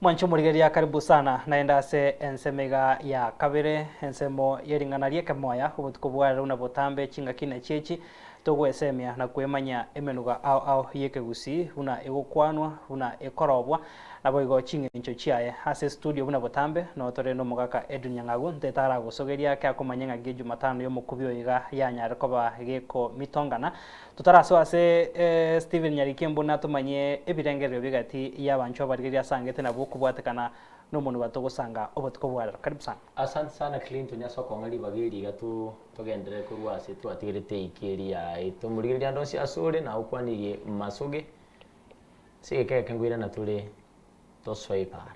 Mwanche omorigereria karibu sana naende ase ensemo iga ya kabere, ensemo ye ring'ana ri'ekemoya. Obotuko bwa rero na botambe chingaki na chiechi, togwesemia na kwemanya emenuga ao ao y'ekegusii buna egokwanwa, buna ekorobwa naboigo ching'encho chiaye. Ase estudio buna botambe noo tore n'omogaka Edwin Nyang'agu, ntetaragosogerie ake akomanya ng'aki Ejumatano y'omokubi oyo iga yanyare koba gekomitongana. Totarasoe ase Stephen Nyarikie buna tomanye ebirengererio bigati y'abanchwa barigeria asangete nabo okobwatekana nomonwa togosanga obotuko bwa rero. Karibu sana. Asante sana Clinton ase okong'a ribaga eri iga to togenderere korwa ase twatigerete eike eri yaito morigereria ande onsi ase ore na okwanirie masoge ase egeka egeke ngoirana tore tosoe para.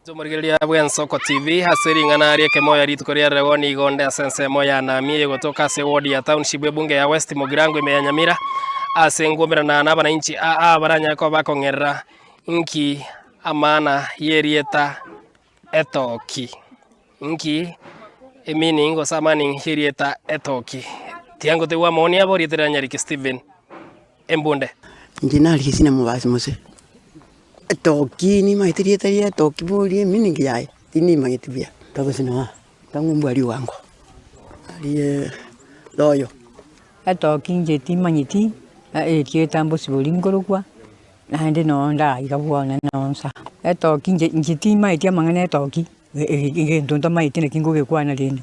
Inche omorigereria bw'Ensoko TV ase ring'ana ri'ekemoyo rituko ria rero nigo nde ase ensemo ya Nami egotoka ase ewodi ya Township Ebunge ya West Mugirango ime ya Nyamira ase ngoberana nabananchi aa baranyare koba bakong'erera inki amana y'erieta Etoki inki emeaning gose amaning y'erieta Etoki. Tiangotegwa amoni abo rieta riranyarekio Steven. embunde. Inche nari esinamobasi mose etoki nimanyete rieta ria etoki bori eminigi yaye, tinimanyeti buya. Togosina ng'a tang'u mbwa riwango narie royo. Etoki inche timanyeti erieta mbosibori nkorokwa, naende noo ndaiga bono noo nsa. Etoki inche inche timanyeti amang'ana etoki, egento ntamanyeti naki ngogekwana rende.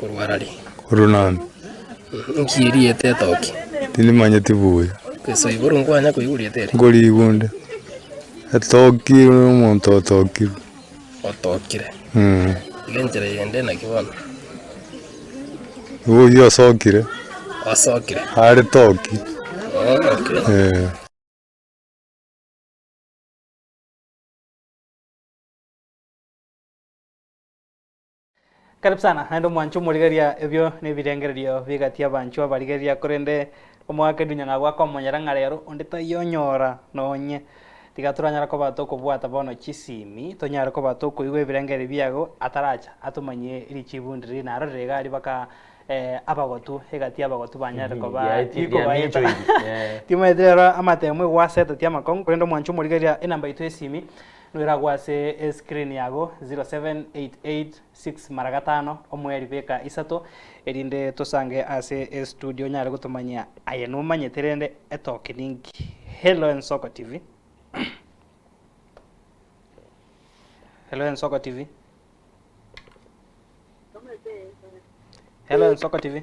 korwa arari. Korwa nande. Nki erieta etoke? Tindimanyeti buya. Ase igoro nkwanya koigwa rieta eri? Nkorigwa onde. Etoki omonto otokirwe. Otokire. Mm. Iga enchera yende naki bono? Igo oyio osokire. Osokire. Are toki. Oh, okay. Eh. Karibu sana naende omwancho omorigereria ebio nebirengererio bigati abanchwa abarigereria korende omogaka edunya ng'a gwak'omonyara ng'a rero onde tayonyora nonye tiga toranyara koba tokobwata bono chisimi tonyare koba tokoigwa ebirengererio biago ataracha atomanyie richibu ndiri naro rire iga aria baka abagotu egati y'abagotu banyare koba Riaeti- rikobaeta riaminchoiri. Eh. Timaeti rero amatemo egwaseta tiamakong'u korende omwancho omorigereria enamba yaito y'esimi Noiragwe ase esikrini yago, 07886 mara gatano, omoeri beka isato, erinde tosange ase estudio onyare gotomanyia aye nomanyete rende etoke ninki. Hello Ensoko TV. Hello Ensoko TV. Hello Ensoko TV.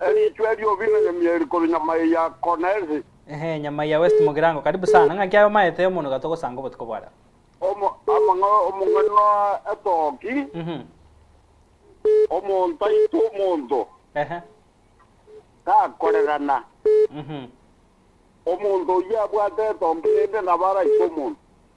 Erichwe ri'obino nyamia eri korwa nyama eye ya Konesi. Ehe, nyama ya West Mugirango, karibu sana. Ng'a ki aye omaete omonwe ga togosanga obotuko bwa rero? Omo- amang'a- omong'ani noa etoki, Mhm. omonto aite omonto, Ehe. takorerana. Mhm. Omonto oyio abwate etombe, rende nabo araite omonto.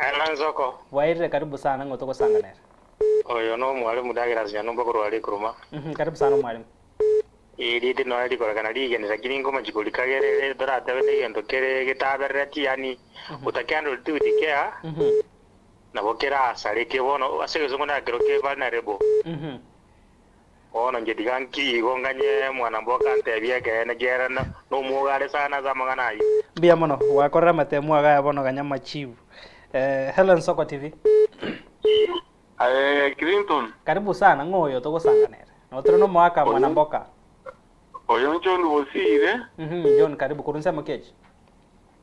Aye nansoko. Bwairire karibu sana ng'o togosanganera. Oyo no mwalimu ndagera ase nyanyomba korwa are ekuruma. Uhmm karibu sana omwalimu. Ii riedi nonya rikorekana rigeni lakini nkomachi korika gere ere toratebe negento kere getaberereti yaani utakihandle it with care nabo keraasareke bono ase egesongo naki kero ke vulnerable. Bono inche tiga nki igo nganye mwanamboka anteebie ekeene kiaerana nomwoga are sana ase amang'ana ayio? Mbuya mono gwakorera amatemu ago aya bono ganya machibu eh Helen Soko TV. Aye Clinton. Karibu sana, ng'o oyo togosanganere? Notore nomoaka mwana mboka. Oyo John Bosire. Mhmm John karibu korwa inse Mokiech.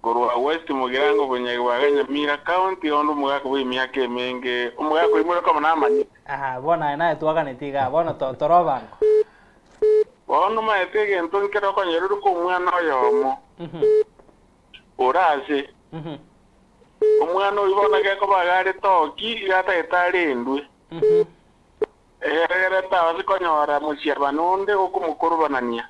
Korwa west mogirango obonyagi bwa Kanyamira County, onde omogaka bwe emiaka emenge, omogaka oimore okoba namanyete. Aa, bono aye naye twaganeti igaa, bono to, tore obango. Bono omaete egento nkere okonyora ore komwana oyomo, ore ase. Omwana oyio bono gekoba iga are toki, iga atagete are endwe. Egeregerete ao ase konyora mosiabani onde okomokorobanania.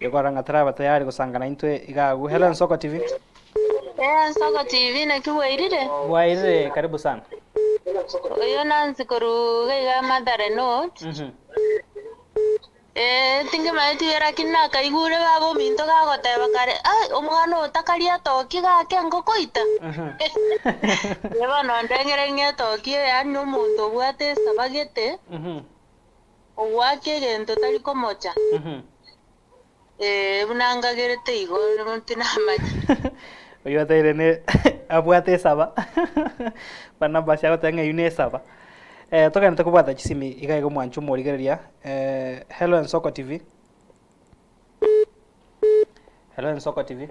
Gekorora ng'a taraba tayari gosanga naintwe iga agwo. Hello Ensoko TV. Eeh Nsoko TV naki bwairire? Bwairire karibu sana. Oyo Nancy korwa iga iga Mathare North. Mhm. Eeh tinkimaeti ere lakini nakaigure baba ominto gagoteba kare ai omwana oyo takaria etoki iga ake engo koita. Mhm. Bono ndengere ng'a etoki yaani nomonto obwate esabagete. Mhm. Ogoaka egento tari komocha, ee, buna ngagerete igo, nero tinamanya. Oyio ataire ne abwate esaba Barnabas agoteba ng'a eyio nesaba eh, togaanete kobwata chisimi iga iga omwancho omorigereria eh, Hello Ensoko TV Hello Ensoko TV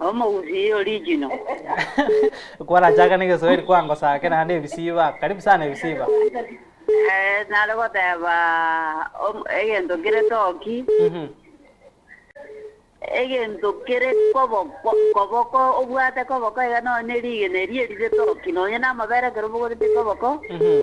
Omogusi ye original. Kwarachaka ne Geswahili kwangosake naende ebisiba. Karibu sana ebisiba. Eh, nare goteba om- egento kere toki, Mhm. egento kere koboko, koboko obwate koboko iga nonye ne rigena eria erire toki, nonye namabere ekero obogorete koboko, Mhm.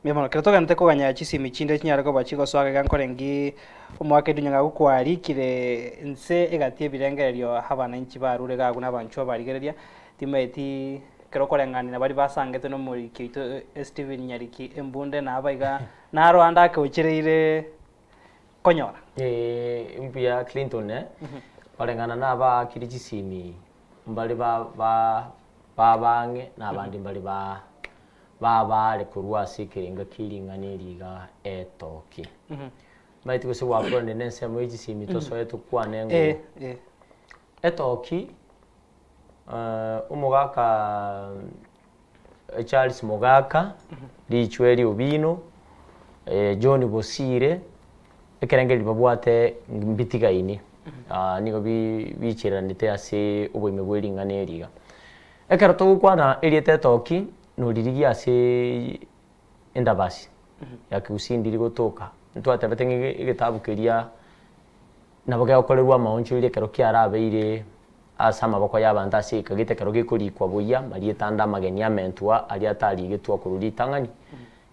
Mbuya mono. Ekero togwenerete koganyera chisemi chinde chinyare koba chigosoa gaiga nkoreng'ki omogaka edinyu ng'a gokwarikire inse egati ebirengererio abananchi barure iga agwo nabanchwa barigereria timaeti ekero okoreng'ana na baria basangetwe nomoriki oito Esteven Nyariki Embunde na aba iga naro ande ake ochereire konyora. Eeh mbuya Clinton koreng'ana na abaakire chisemi mbare ba ba ba abang'e na abande mbare ba. babaare korwa ase ekerenga kie ring'ana eri iga etooke. Mbaeti gose gwakoranirie na ensemo ye chisemi tosoe tokwane Eh, ng'o eh. etooki eh, omogaka eh, Charles Mogaka, Riichwe Riobino, eh, John Bosire, ekerengo eri babwate ngi- mbitigaini ah, nigo bi- biichereranete ase oboime bwe ring'ana eri iga. Ekero togokwana erieta etoki noririgie ase endabasi ya Kiusindi rigotoka, ntwatebete ng'a egetabu keria nabo gegokorerwa amaonchoiri ekero kiarabeire ase amaboko y'abanto ase ika gete ekero gekorikwa boyia marieta ande amageni amentwa aria atarigetwa korwa ritang'ani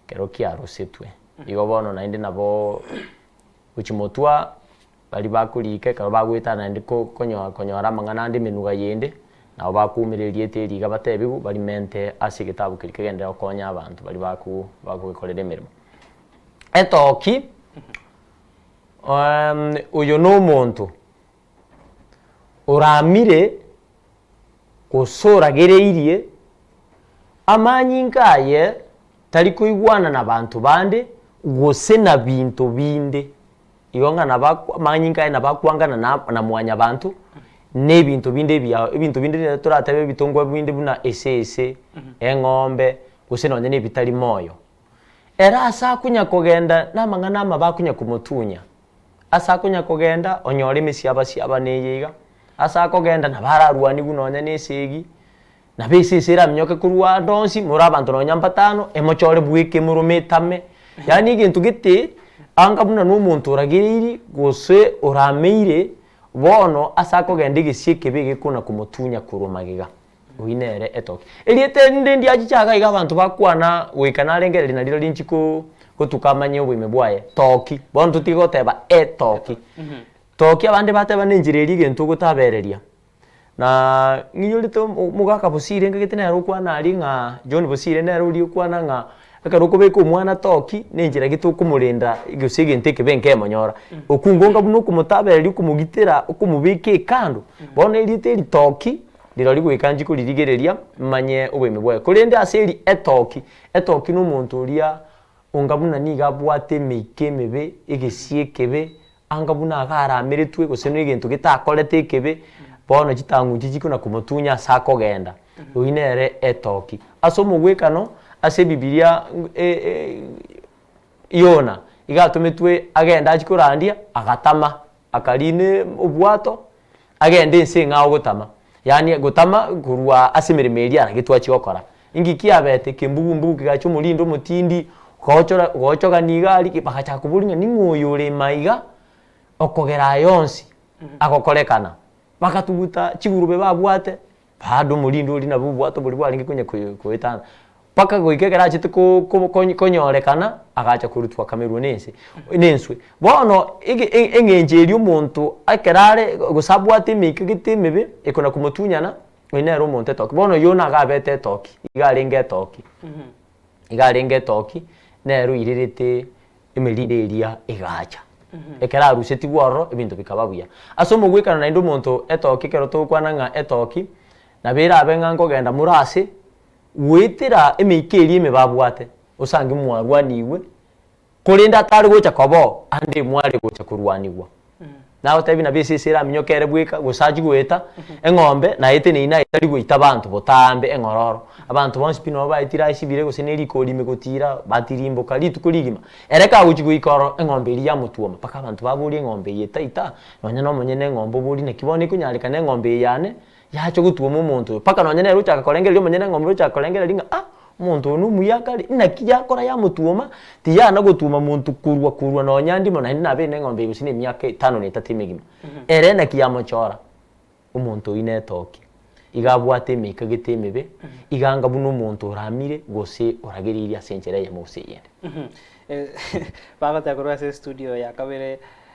ekero kiarosetwe. Igo bono naende nabo gochimotwa. Baria bakoriika ekaba bagoetana naende konyora amang'ana ande emenuga yende, nabo bakoumera erieta eri iga bateebigwe, barimente ase egetabu keria kegenderere gokonya abanto baria bagogekorera emeremo. Etoki, oyo nomonto oramire gose oragereirie amanyinga aye tari koigwana nabaanto bande gose nabinto binde. Igo ng'a nabakw amanyinga aye nabakwangana na na mwanyabanto, na ebinto binde ebiya ebinto binde rire toratebe ebitongwa binde buna esese, eng'ombe, gose nonye na ebitari moyo. Ere ase akonya kogenda na amang'ana amabe akonya komotunya, ase akonya kogenda onyore emesiaba siaba neye iga, ase akogenda nabo ararwanigwe nonye na esegi, Na be inse isere aminyoke korwa ande onsi, more abanto nonya mbatano, emochore bwe ekemuruma etame, yaani egento gete anga buna nomonto oragereiri, gose orameire, bono ase akogenda egesie ekebe egeko na komotunya korwa magega. Oyio nere etoke. Erieta erinde ndiachiche iga iga abanto bakwana goika narengereria nariro rinchi ko gotuka amanye oboime bwaye, toki, bono totige goteba etoki. Toki abande bateba nenchera eria egento ogotabereria. Na ng'inyorete omogaka bosire ngagete nere okwana aria ng'a John bosire nere oria okwana ng'a ekero okobeka omwana toki nenchera gete okomorenda gose egento ekebe nkemonyora. Okungonga buna okomotabereria okomogitera okomobeka ekando bono erieta eritoki rirori goika nchikoririgereria manye oboime bwaye. Korende aseri etoki, etoki na omonto oria onga buna niga abwate emeika emebe, egesie ekebe, Anga buna agarameretwe, gose negento getakorete ekebe, bono chitang'unche chikona komotunya ase akogenda. Oyio nere etoki. Ase omogwekano, ase ebibiria Yona iga atometwe agende achikorandia, agatama, akariina obwato, agende inse ng'a ogotama, yaani gotama korwa ase emeremo eria nagetwachie gokora. Inki kiabete? Kembugumbugu kegacha omorindi omotindi, ogaochora ogaochogani iga aria ki bagachaka koboria ng'a ning'o oyo ore ime aiga okogera aya onsi agokorekana? Bagatuguta chigurube babwate, Bado omorindi oria nabo obwate oboria bwarenge konya koye koyetana, mpaka goika ekero achete ko ko ko konyorekana, agacha korutwa akamerwa na ense na enswe. Bono ege e eng'encho eria omonto ekero are gose abwate emeika gete emebe, ekona komotunyana, oyo nere omonto etoke. Bono oyio nigo abete etoki, iga arenge etoki iga arenge etoki, nere oirerete. emeriri eria egaacha. Ekero arusetigwe ororo, ebinto bikaba buya. Ase omogwekano naende omonto etoki, ekero togokwana ng'a etoki, nabo erabe ng'a nkogenda more ase goetera emeika eria emebe abwate, osange mwarwanigwe, korende atare gocha koba oo, ande mware gocha korwanigwa. Nagotebi nabo esese eraminyoke ere bweka, gose achie goeta eng'ombe na eteni eyio naye tari goita abanto botambe eng'ororo. Abanto bonsi pi nabo baetire aye chibire gose ne rikori ime gotiira, batirimboka rituko rigima. Ere kagochia goika ororo, eng'ombe eria yamotuoma, mpaka abanto baborie eng'ombe eye etaita, nonya nomonyene eng'ombe oborie naki bono ekonyarekana eng'ombe eye yane, Yacha gotuoma omonto oyo, mpaka nonye nere ochaka korengereria omonyene eng'ombe ochaka korengereria ng'a ah, omonto oyo nomuya akare, inaki yakora yamotuoma, tiyana gotuoma monto korwa korwa nonya ndimo naende nabeire na eng'ombe eye gose na emiaka etano na etato emegima. Ere naki yamochora, omonto oyio netoke, iga abwate emeika gete emebe, iga anga buna omonto oramire gose oragereirie ase enchera eyemo gose eyende. Bagoteba korwa ase estudio ya kabere.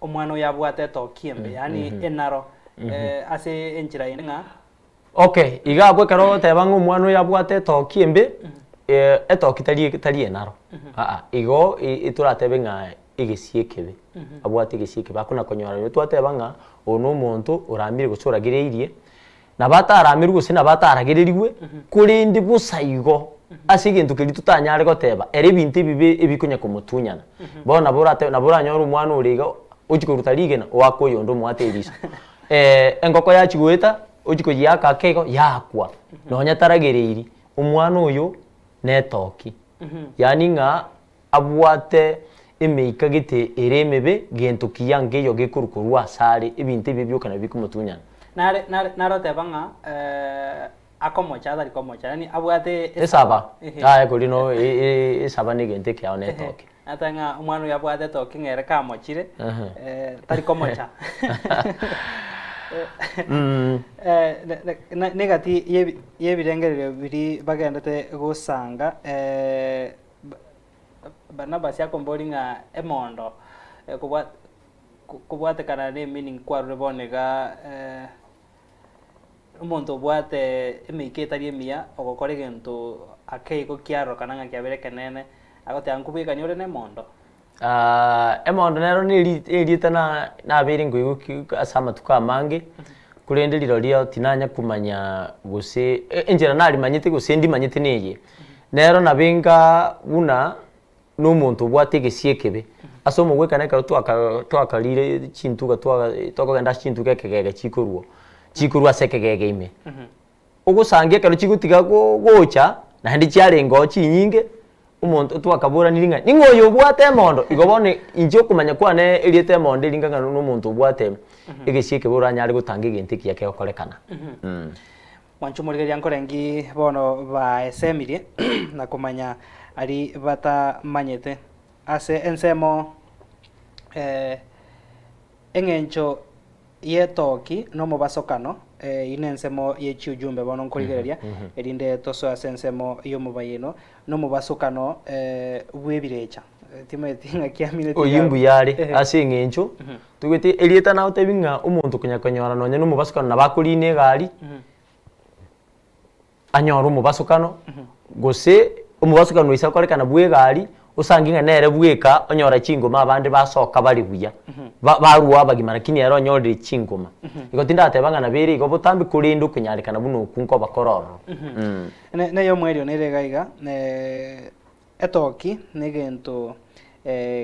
omwana oyo abwate etoki embe, yaani enaro, eh, ase enchera eye ng'a. Okay, iga abwo ekero ogoteba ng'a omwana oyo abwate etoki embe, eh, etoki tari eke tari enaro, aa, igo i- itoratebe ng'a egesie ekebe, abwate egesie ekebe, akona konyora. Rirorio twateba ng'a oyo na omonto orambire gose oragereirie Nabataramerwe gose nabataragererigwe, korende bosaigo ase egento keria totanyare goteba, ere ebinto ebibe ebikonya komotunyana. Bono nabo orate nabo oranyore omwana ore iga ochia koruta rigena oake oyonde omoate eriso. Engoko yachia goeta ochia koyiaka ake igo yakwa, nonya taragereiri, omwana oyo netoki. Yaani ng'a. Abwate emeika gete ere emebe, gento kiya nkeiyo gekorwa korwa ase are, ebinto ebio bioka nabio bikomotunyana. Nare, nare, nare oteba ng'a, eh, akomocha atari komocha, yaani abwate Esaba. ehe. Aye kori no, e, e, esaba negento ekeao na Ehe. etoke. Ata ng'a omwana oyo abwate etoke ng'a ere kamochire, Ehe. eh, tari komocha. Mm. Eh, ne- ne- na- negati y'ebi- y'ebirengererio biria bagendete gosanga, eh, Barnabas akombori ng'a emondo kobwatekana ne meaning kwarure bono iga omonto obwate emeika etari emiya ogokora egento ake igo kiarorokana ng'a kiabeire ekeneene agoteba ng'a nkobwekani ore nemondo. Emondo nero neri erieta na nabeire ngoigwa ase amatuko amange, korende rirorio tinanya komanya gose enchera narimanyete gose ndimanyete neye, nero nabenga buna na omonto obwate egesie ekebe. Ase omogwekano ekero twaka twakarire chintuga twa tokogenda ase chintuga ekegege chikorwa chikorwa ase ekegege ime. ogosangia ekero chigotiga gocha, naende chiarengeo chinyinge, omonto twakaboraniri ng'a ning'o oyo obwate emondo, igo bono inche okomanya kwane eriete emondo eri ng'akana na omonto obwate egesie ekebe oranyare gotanga egento ekiya kegokorekana mm. Mwancha omorigereria nkore nki bono baesemirie na komanya ari batamanyete? Ase ensemo, eh, eng'encho y'etoki nomobasokano, Eyio nensemo ye chiujumbe bono nkorigereria, erinde tosoe ase ensemo y'omobayeino nomobasokano bw'ebirecha. Timanyeti ng'aki amineti Oyio iga. mbuya are, ase eng'encho tobete erieta nagotebi ng'a omonto konya konyora nonya nomobasokano nabo akoriina egari, anyore omobasokano, gose omobasokano oise okorekana bw'egari, osange ng'a nere bweka onyora chingoma abande basoka bare buya, ba barwa abagima lakini ere onyorire chingoma. Igo tindateba ng'a nabere igo botambe korende okonyarekana buna okwo nkoba kore ororo. Ne- ne eyomwerirano ere iga iga, etoki negento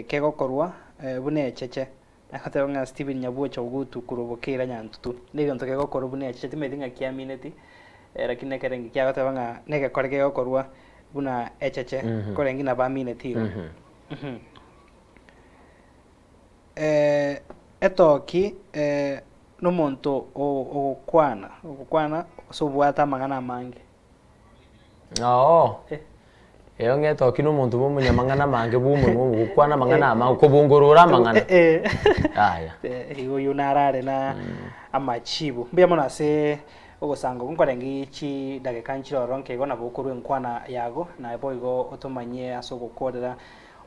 kegokorwa buna echeche, Agoteba ng'a Stephen nyabwocha ogotu korwa bokeire onye antutu negentu kegokorwa buna echi chiatimeti ng'a kiamineti lakini nekerenge kiagoteba ng'a negekore kegokorwa buna echeche korenge nabo amineti igo. Etoki nomonto ogokwana ogokwana gose obwate amang'ana amange. Oo, eyo ng'ete oki nomonto bwa omonyamang'ana amange bwa omonwa obo, gokwana amang'ana amange, kobongorora amang'ana. Eh, Yaya. eh, igo oyio narare na amachibu. Mbuya mono ase ogosanga okwo nkorenge chidageka nchiroronke igo nabo okorwa enkwana yago, naye boigo otomanyie ase ogokorera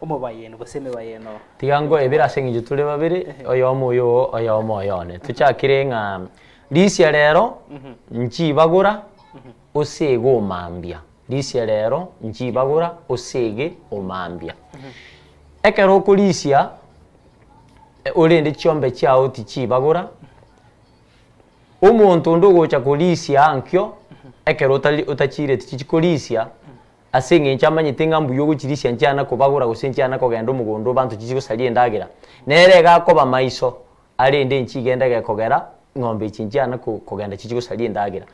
omobayeeno gose emebayeeno. Tiga ngoebere ase eng'encho tore babere, Ehe. oyomo oyo oo, oyomo oyo one. Tochakire ng'a. Risia rero nchibagora osege omambia, risia rero nchibagora osege omambia. Ekero okorisia orende chiombe chiao tichibagora, omonto onde ogocha korisia ankio ekero otari otachiireti chichi korisia ase eng'encho amanyete ng'a mbuya ogochirisia nchiana kobagora gose nchiana kogenda omogondo obanto chichi gosaria endagera, nere iga akoba maiso Arende enchie igende egekogera, ng'ombe echi nchiana kogenda chichie gosaria endagera.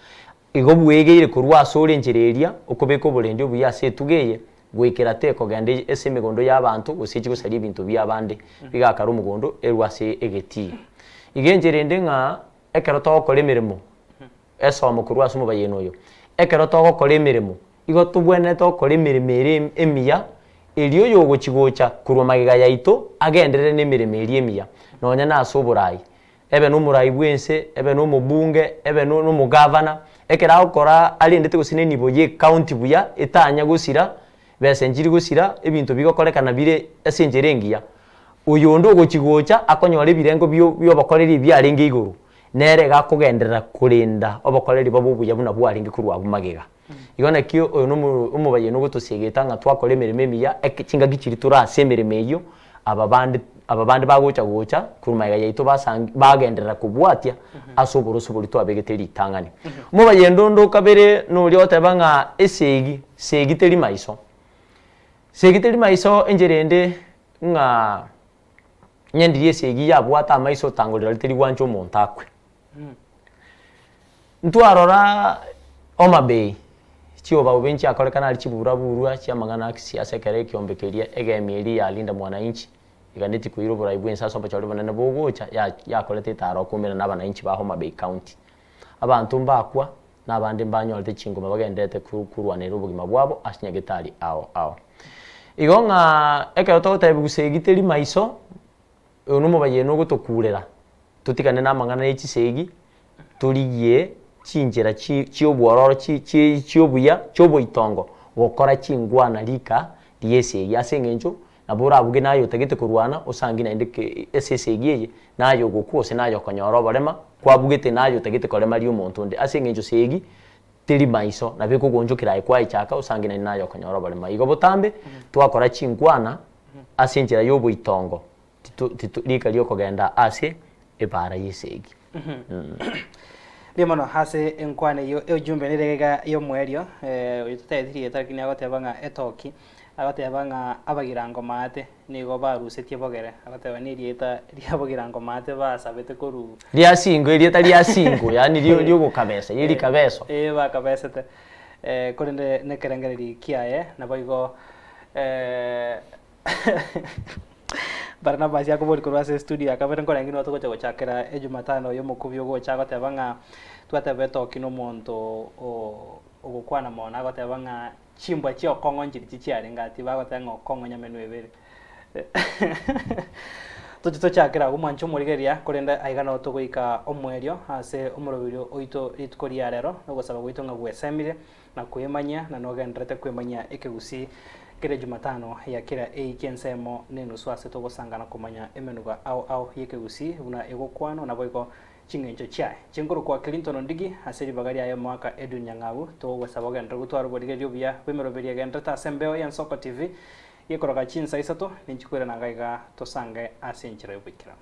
Igo bwegeire korwa ase ore enchera eria, okobeka oborendi obuya ase etugo eye, goikera tekogenda ase emegondo y'abanto, gose echie gosaria ebinto bi'abande, bigakara omogondo erwe ase egetii. Iga enchera ende ng'a ekero togokora emeremo. Esomo korwa ase omobayeeno oyo, Ekero togokora emeremo, igo tobwenerete gokora emeremo eria emiya, erio oyogochi-gocha korwa magega yaito agenderere nemeremo eria emiya, nonya nase oborai. Ebe nomorai bw'ense, ebe nomobunge, ebe nomogavana, ekero agokora arendete gose nenibo y'ecounty buya, etanya gosira, besenchiri gosira, ebinto bigokorekana bire ase enchera engiya, oyonde ogochi-gocha akonyora ebirengo bi'obokoreri ebiarenge igoro. Nere gakogenderera korenda obokoreri bobe obuya buna bwarenge korwa abwo magega. Igo nakio oyo nomo omobayeni ogotosiegeta ng'a twakora emeremo emiya, eke chingaki chiria tore ase emeremo eyio, aba bande aba bande bagocha gocha korwa magega yaito basangi bagenderera kobwatia ase oboroso boria twabegete ritang'ani. Omobayende onde o kabere noria oteba ng'a esegi segi teri maiso. Segi teri maiso enchera ende ng'a Nyendiri esia eyio yabwate amaiso otangorera riteriri gwancha omonto akwe. Ntwarora omabei, chiubaube nchiakorekana aria chiburaburu chiamang'ana asia ase ekero ekiombe keria egemi eria ya Linda Mwananchi eganetie koira oborai bw'ense ase obochore bonene bogocha, yakorete etaro okoumera na abananchi ba Homabay County. Abanto mbakwa, na abande mbanyorete chingoma bagendererete korwanera obogima bwabo ase nyagetari ao ao. Igo ng'a ekero togotebia gusa egiteri maiso, oyo nomobayeeno ogotokurera, totigane namang'ana ne chisegi, torigie chinchera chi chiobwororo chi chi chiobuya chioboitongo gokora chingwana rika riesegi ase engencho Nabo orabuge naye otagete korwana, osangi naende ase esegi eye, naye ogokwa gose naye okonyora oborema, kwabugete naye otagete koremaria omonto onde, ase engencho esegi teri maiso, nabo ekogonchokera aye kwaechaka, osangi naende naye okonyora oborema. Igo botambe twakora chinkwana ase enchera y'oboitongo, tito tito rika ri'okogenda ase ebaara y'esegi. Mbuya mono ase enkwana eyio eujumbe nere egega y'omoerio oyio totaeti rieta lakini agoteba ng'a etoki agoteba ng'a abagirango maate nigo barusetie bogere agoteba nerieta riabogirango maate basabete koru Ria singo erieta ria singo yaani rio riogokabesa eri rikabeso. Ee bakabesete korende nekerengereri kiaye naboigo Barnabas akoboria korwa ase estudio ya kabere, Nkorenge inwe togocha gochakera Ejumatano eye omokubi ogocha agoteba ng'a twatebe toki nomonto o ogokwana mono, nagoteba ng'a chimbwa chia okong'o nchiri chichiarenge aa, tiba agoteba ng'a okong'o nyamenu ebere. Toche tochakere agwo mwanche omorigeria, korende aiga nao togoika omoerio ase omoroberio oito rituko ria rero, nogosaba gwaito ng'a gwesemire, na kwemanya, na nogenderete kwemanya ekegusii kera Jumatano ya kera eiki ensemo nenusu ase togosangana komanya emenuga ao ao y'ekegusii buna egokwanwa naboigo ching'encho chiaye. Chinkuru kwa Clinton Ndigi ase ribaga riaye omwaka Edwin Nyang'au togogosaba ogenderere gotwara oborigereria obuya bw'emeroberio egenderete ase embeo ya Nsoko TV gekoroka chinsa isato ninchikwera nanga iga tosange ase enchera y'oboikeranu.